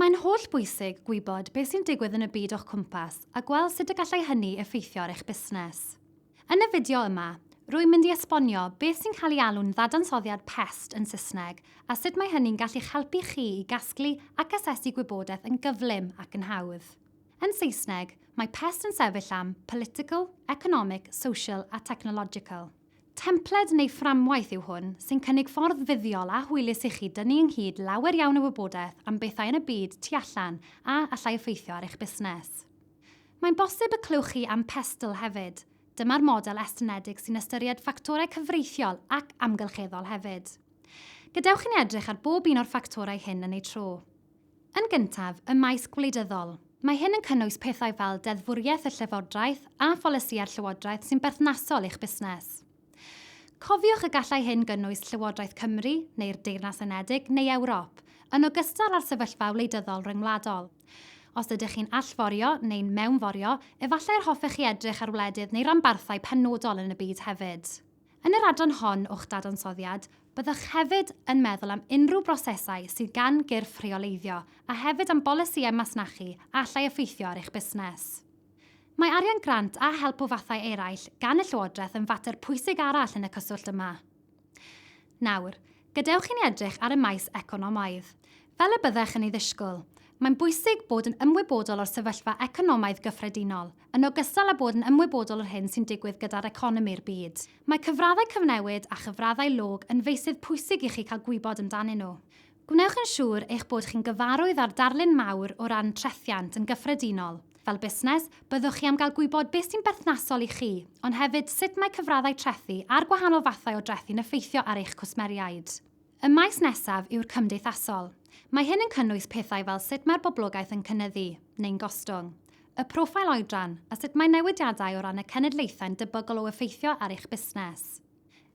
Mae'n holl bwysig gwybod beth sy'n digwydd yn y byd o'ch cwmpas a gweld sut y gallai hynny effeithio ar eich busnes. Yn y fideo yma, rwy'n mynd i esbonio beth sy'n cael ei alw'n ddadansoddiad pest yn Saesneg a sut mae hynny'n gallu'ch helpu chi i gasglu ac asesu gwybodaeth yn gyflym ac yn hawdd. Yn Saesneg, mae pest yn sefyll am political, economic, social a technological. Templed neu fframwaith yw hwn sy'n cynnig ffordd fuddiol a hwylus i chi dynnu ynghyd lawer iawn o wybodaeth am bethau yn y byd tu allan a allai effeithio ar eich busnes. Mae'n bosib y clywch chi am Pestle hefyd. Dyma'r model estynedig sy'n ystyried ffactorau cyfreithiol ac amgylcheddol hefyd. Gadewch i ni edrych ar bob un o'r ffactorau hyn yn eu tro. Yn gyntaf, ym maes gwleidyddol. Mae hyn yn cynnwys pethau fel deddfwriaeth y Llywodraeth a pholisïau'r Llywodraeth sy'n berthnasol i'ch busnes. Cofiwch y gallai hyn gynnwys Llywodraeth Cymru, neu'r Deyrnas Unedig, neu Ewrop, yn ogystal â'r sefyllfa wleidyddol ryngwladol. Os ydych chi'n allforio, neu'n mewnforio, efallai yr hoffech chi edrych ar wledydd neu ranbarthau penodol yn y byd hefyd. Yn yr adran hon o'ch dadansoddiad, byddwch hefyd yn meddwl am unrhyw brosesau sydd gan gyrff rheoleiddio a hefyd am bolisïau masnachu a allai effeithio ar eich busnes. Mae arian grant a help o fathau eraill gan y Llywodraeth yn fater pwysig arall yn y cyswllt yma. Nawr, gadewch i ni edrych ar y maes economaidd. Fel y byddech yn ei ddisgwyl, mae'n bwysig bod yn ymwybodol o'r sefyllfa economaidd gyffredinol, Yn ogystal â bod yn ymwybodol o'r hyn sy'n digwydd gyda'r economi'r byd, mae cyfraddau cyfnewid a chyfraddau log yn feysydd pwysig i chi cael gwybod amdanyn nhw. Gwnewch yn siŵr eich bod chi'n gyfarwydd â'r darlun mawr o ran trethiant yn gyffredinol. Fel busnes, byddwch chi am gael gwybod beth sy'n berthnasol i chi, ond hefyd sut mae cyfraddau trethi a'r gwahanol fathau o drethi'n effeithio ar eich cwsmeriaid. Y maes nesaf yw'r cymdeithasol. Mae hyn yn cynnwys pethau fel sut mae'r boblogaeth yn cynyddu, neu'n gostwng, y proffil oedran, a sut mae newidiadau o ran y cenedlaethau'n debygol o effeithio ar eich busnes.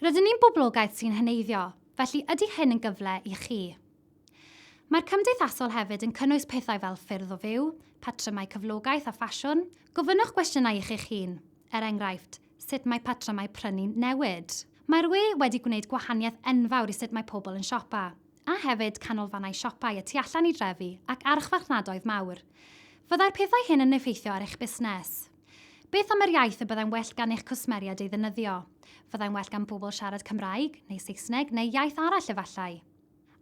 Rydyn ni'n boblogaeth sy'n heneiddio, felly ydy hyn yn gyfle i chi? Mae'r cymdeithasol hefyd yn cynnwys pethau fel ffyrdd o fyw, patrymau cyflogaeth a ffasiwn. Gofynnwch gwestiynau i chi'ch hun, er enghraifft, Sut mae patrymau prynu'n newid? Mae'r we wedi gwneud gwahaniaeth enfawr i sut mae pobl yn siopa, a hefyd canolfannau siopau y tu allan i drefi ac archfarchnadoedd mawr. Fyddai'r pethau hyn yn effeithio ar eich busnes? Beth am yr iaith y byddai'n well gan eich cwsmeriaid ei ddefnyddio? Fyddai'n well gan bobl siarad Cymraeg, neu Saesneg, neu iaith arall efallai?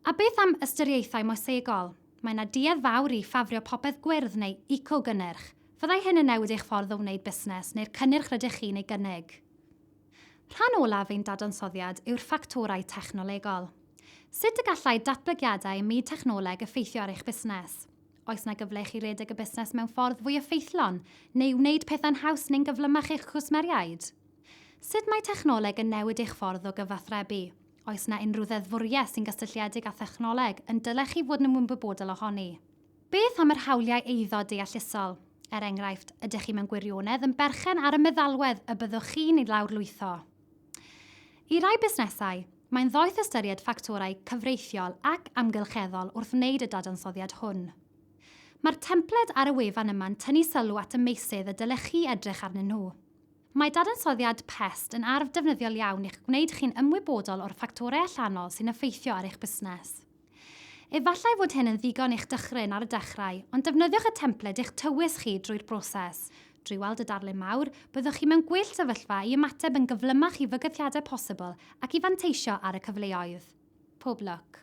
A beth am ystyriaethau moesegol? Mae yna duedd fawr i ffafrio popeth gwyrdd neu eco-gynnyrch. Fyddai hyn yn newid eich ffordd o wneud busnes neu'r cynnyrch rydych chi'n ei gynnig? Rhan olaf ein dadansoddiad yw'r ffactorau technolegol. Sut y gallai datblygiadau ym myd technoleg effeithio ar eich busnes? Oes yna gyfle i chi redeg y busnes mewn ffordd fwy effeithlon neu wneud pethau'n haws neu'n gyflymach i'ch cwsmeriaid? Sut mae technoleg yn newid eich ffordd o gyfathrebu? Oes yna unrhyw ddeddfwriaeth sy'n gysylltiedig â thechnoleg yn dylech chi fod yn ymwybodol ohoni? Beth am yr hawliau eiddo deallusol? Er enghraifft, ydych chi mewn gwirionedd yn berchen ar y meddalwedd y byddwch chi'n ei lawrlwytho? I rai busnesau, mae'n ddoeth ystyried ffactorau cyfreithiol ac amgylcheddol wrth wneud y dadansoddiad hwn. Mae'r templed ar y wefan yma'n tynnu sylw at y meysydd y dylech chi edrych arnyn nhw. Mae dadansoddiad pest yn arf defnyddiol iawn i'ch gwneud chi'n ymwybodol o'r ffactorau allanol sy'n effeithio ar eich busnes. Efallai fod hyn yn ddigon i'ch dychryn ar y dechrau, ond defnyddiwch y templed i'ch tywys chi drwy'r broses. Drwy weld y darlun mawr, byddwch chi mewn gwell sefyllfa i ymateb yn gyflymach i fygythiadau posibl ac i fanteisio ar y cyfleoedd. Pob lwc!